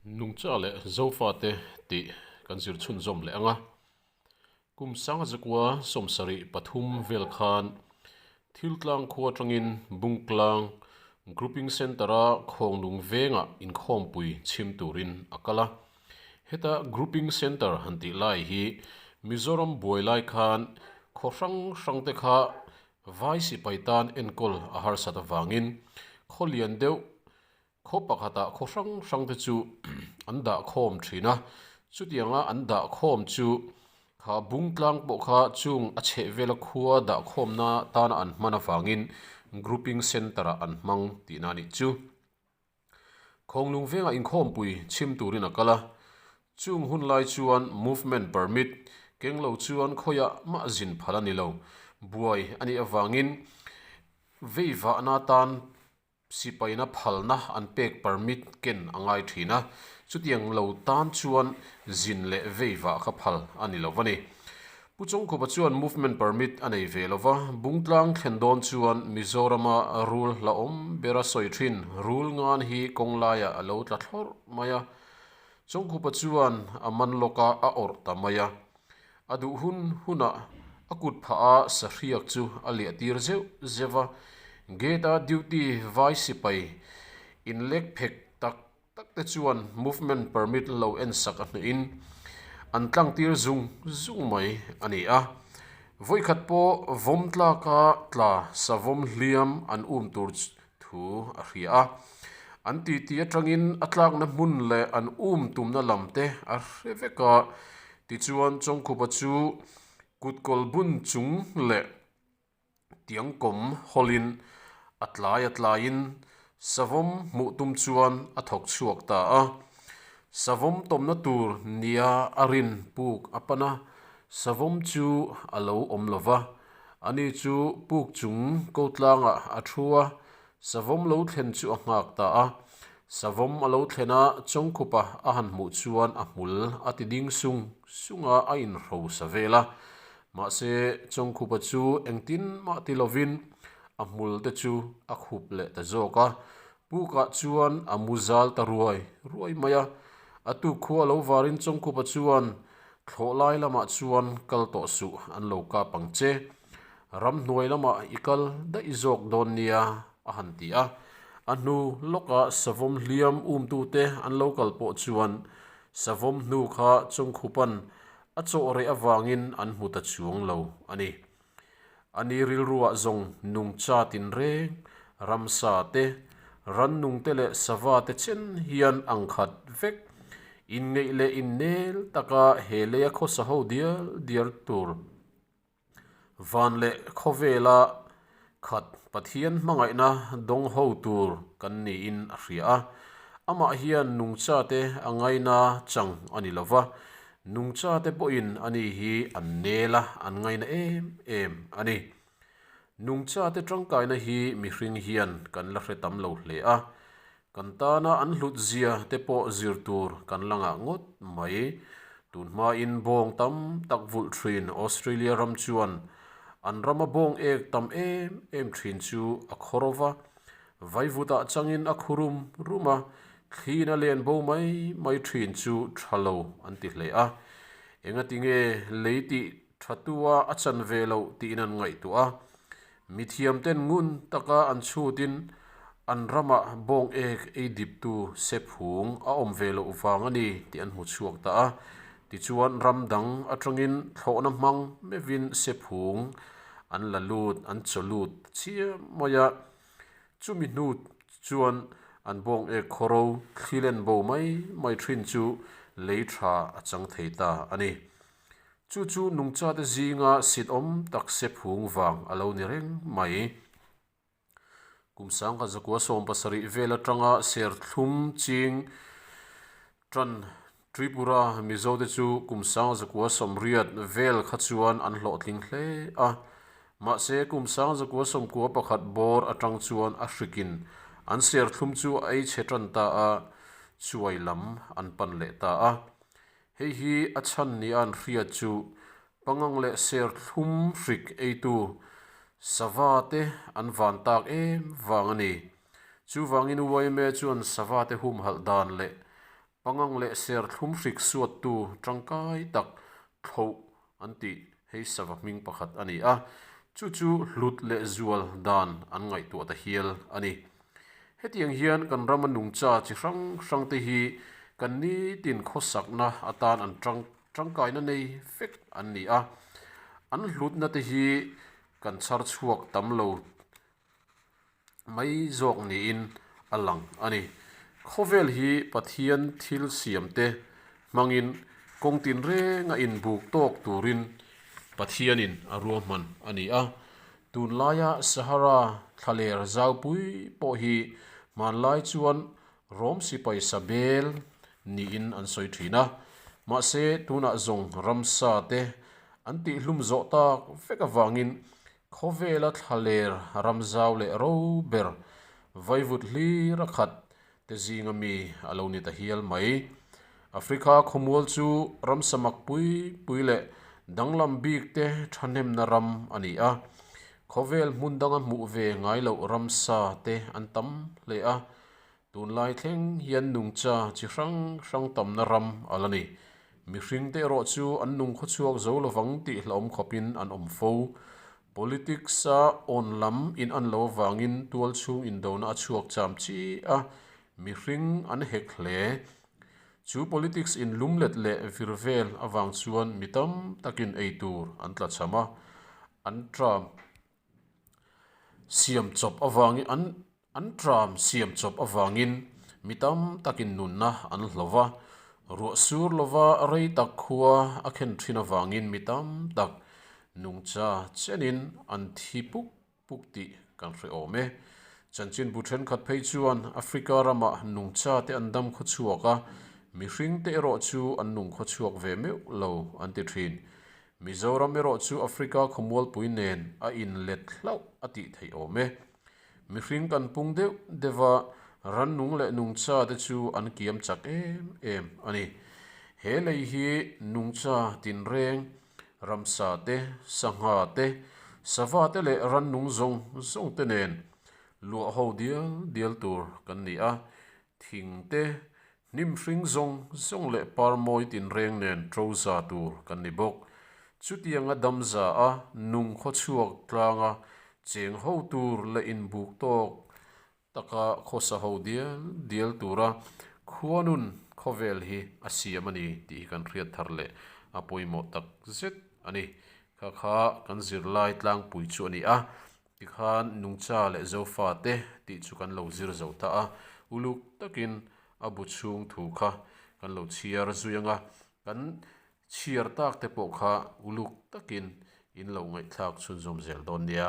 Nungcha leh Zofate tih kan zir chhun zawm leh ang a. Kum sanga zakua sawm sarih pathum vel khan thil tlang khua atangin Bungtlang Grouping Centre a Khawngnung vengah inkhawmpui chhim turin a kal a. Heta Grouping Centre han tih lai hi Mizoram buai lai khan khaw hrang hrangte kha vai sipai tan enkawl a harsat avangin khaw lian deuh Khaw pakhatah khaw hrang hrangte chu an dah khawm thin a, chutianga an dah khawm chu kha bung tlang pawh kha chung a chheh vela khua dah khawmna tana an hman avangin Grouping Centre-ah an hmang tihna a nih chu. Khawnglung vengah inkhawmpui chhim turin a kal a, chung hun lai chuan Movement Permit keng lo chuan khawia mah zin phal a ni lo, buai a nih avangin veivahna tan, Sipaina phalna an pek permit ken a ngai thin a, chutiang lo tan chuan zin leh veivah kha phal a ni lo va ni. Pu Chawngkhupa chuan movement permit a nei ve lo va, Bungtlang thlen dawn chuan Mizorama rule hla awm bera sawi thin, rule ngan hi kawng laia a lo tla thlawrh mai a. Chawngkhupa chuan a man lawka a awrh ta mai a, A duh hun hunah a kut phah a sahriak chu a liah tir zeuh zeuh a, gate a duty vai sipai inlek phek tak tak te chuan movement permit lo en sak a hnuin an tlang tir zung zung mai a ni a, vawikhat pawh vawmtlaka tla savawm hliam an um tur thu a hria a. An titi atangin a tlakna hmun leh an um tumna lam te a hre vek a. Tichuan Chawngkhupa chu kut kawlbun chung leh tiangkawm hawlin a tlai a tlaiin savawm hmuh tum chuan a thawk chhuak ta a. Savawm tawmna tur nia a rin puk a pan a, savawm chu a lo awm lo va. Ani chu puk chung ko tlangah a thu a, savawm lo thlen chu a nghak ta a. Savawm a lo thlen a, Chawngkhupa a han hmuh chuan a hmul a ti ding sung sunga a inhro sa vel a. Mahse, Chawngkhupa chu engtin mah ti lovin a hmul te chu a khup leh ta zawk a, Pukah chuan a mu zal ta ruai ruai mai a, a tu khua lo varin Chawngkupa chuan thlawh lai lamah chuan kal tawh suh an lo kap ang che. Ram hnuai lamah i kal daih zawk dawn nia a han ti a. A hnu lawkah savawm hliam umtute an lo kal pawh chuan savawm hnu kha Chawngkupa'n a chawh reh avangin an hmu ta chuang lo a ni. Ani rilruah zawng nung chat in reng ramsa te, rannung te leh sava te chen hian ang khat vek. Inngeih leh innel taka he leia khawsa ho dial dial tur van leh khawvela khat Pathian hmangaihna dawng ho tur kan niin a hria a. Amah hian nung chate a ngaina chang a ni lova, Nungchate pawhin a ni hi an nel a, an ngaina em em a ni. Nungchate tangkaina hi mihring hian kan la hre tam lo hle a, kan tana an hlut zia te pawh zir tur kan la ngah ngawt mai. Tun hmain bawng tam tak vulh thin Australia ram chuan an rama bawng ek tam em em thin chu a khaw rova, Vaivutah changin a khu rum rum a, thlin a len bo mai mai thin chu tha lo an ti hle a. Engati nge lei tih tha tua a chan ve lo tiin an ngaihtuah a. Mithiamten ngun taka an chhutin an ramah bawng ek ei diptu sephung a awm ve loh vang a ni tih an hmu chhuak ta a. Tichuan ram dang atangin thlawhna hmang mevin sephung an la lut an chaw lut chiah mai a. Chumi hnu chuan an bawng ek khaw ro thli len bo mai mai thin chu lei tha a chang thei ta a ni. Chu chu nungchate zinga sitawm takse phung vang a lo ni reng mai. Kum sangkha zakua sawm pasarih vel atanga serthlum ching Tan, Tripura, Mizo te chu kum sanga zakua sawmriat vel kha chuan an hlawhtling hle a. Mahse, kum sanga zakua sawmkua pakhat bawr atang chuan a hrikin an serthlum chu a ei chhe tan ta a, chuai lam an pan leh ta a. Hei hi a chhan nia an hriat chu, pangang leh serthlum hrik eitu sava te an van tak em vang a ni. Chuvangin Uaime chuan sava te humhalh dan leh pangang leh serthlum hrik suattu tangkai tak thloh an tih hei sava hming pakhat a ni a, chu chu hlut leh zual dan an ngaihtuah ta hial a ni. Hetiang hian kan rama nungcha chi hrang hrangte hi kan nitin khawsakna atan an tang tangkaina nei fek an ni a, an hlutnate hi kan chharchhuak tam lo mai zawk niin a lang a ni. Khawvel hi Pathian thil siamte hmangin kawng tin renga inbuk tawk turin Pathianin a ruahman a ni a. Tun laia Sahara thlaler zaupui pawh hi hmanlai chuan Rome sipai sabel niin an sawi thin a. Mahse, tunah zawng ramsa te an tihhlum zawh tak vek avangin Khawvela thla ler ram zau leh ro ber vaivut hlir a khat te zinga mi a lo ni ta hial mai. Africa khawmual chu ram samak pui pui leh danglam bik te thahnemna ram a ni a. Khawvel hmun danga hmuh ve ngai loh ram sa te an tam hle a. Tunlai thleng hian nungcha chi hrang hrang tamna ram a la ni. Mihring te erawh chu an nung khawchhuak zo lovang tih hlauhawm khawpin an awm fo. Politics a awn lam in an lo avangin tual chhung indona a chhuak cham chi a. Mihring an hek hle. Chu politics in lum let leh vir vel avang chuan mi tam takin ei tur an tla chham a. An tla. siam chawp avangin an an ṭam siam chawp avangin mi tam takin nunna an hlawh va, ruah sur lova rei tak khua a khen ṭhin avangin mi tam tak nungcha chenin an thi puk puk tih kan hreawm e. Chanchinbu ṭhenkhat phei chuan Africa ramah nungcha te an dam khaw chhuak a, mihringte erawh chu an nung khaw chhuak ve meuh lo an ti ṭhin. Mizoram erawh chu Africa khawmualpui nen a in let hlauh a tih theih awm e. Mihring kan pung deuh deuh a, rannung leh nungcha te chu an kiam chak em em a ni. He lei hi nungcha, tinreng, ramsa te, sangha te, sava te leh rannung zawng zawng te nen luah ho dial dial tur kan ni a. Thing te, Hnim hring zawng zawng leh par mawi tinreng nen to za tur kan ni bawk. Chutiang a dam za a, nung khaw chhuak tlang a, cheng ho tur leh inbuk tawk taka khawsa ho dial dial tura khuanun khawvel hi a siam a ni tih hi kan hriat thar leh a pawimawh tak zet a ni. Kha kha kan zirlai tlangpui chu a ni a, Tikhan Nungcha leh Zofa te tih chu kan lo zir zo ta a, uluk takin a bu chhung thu kha kan lo chhiar zui ang a, kan chhiar tak te pawh kha uluk takin in lo ngaihthlak chhunzawm zel dawn nia.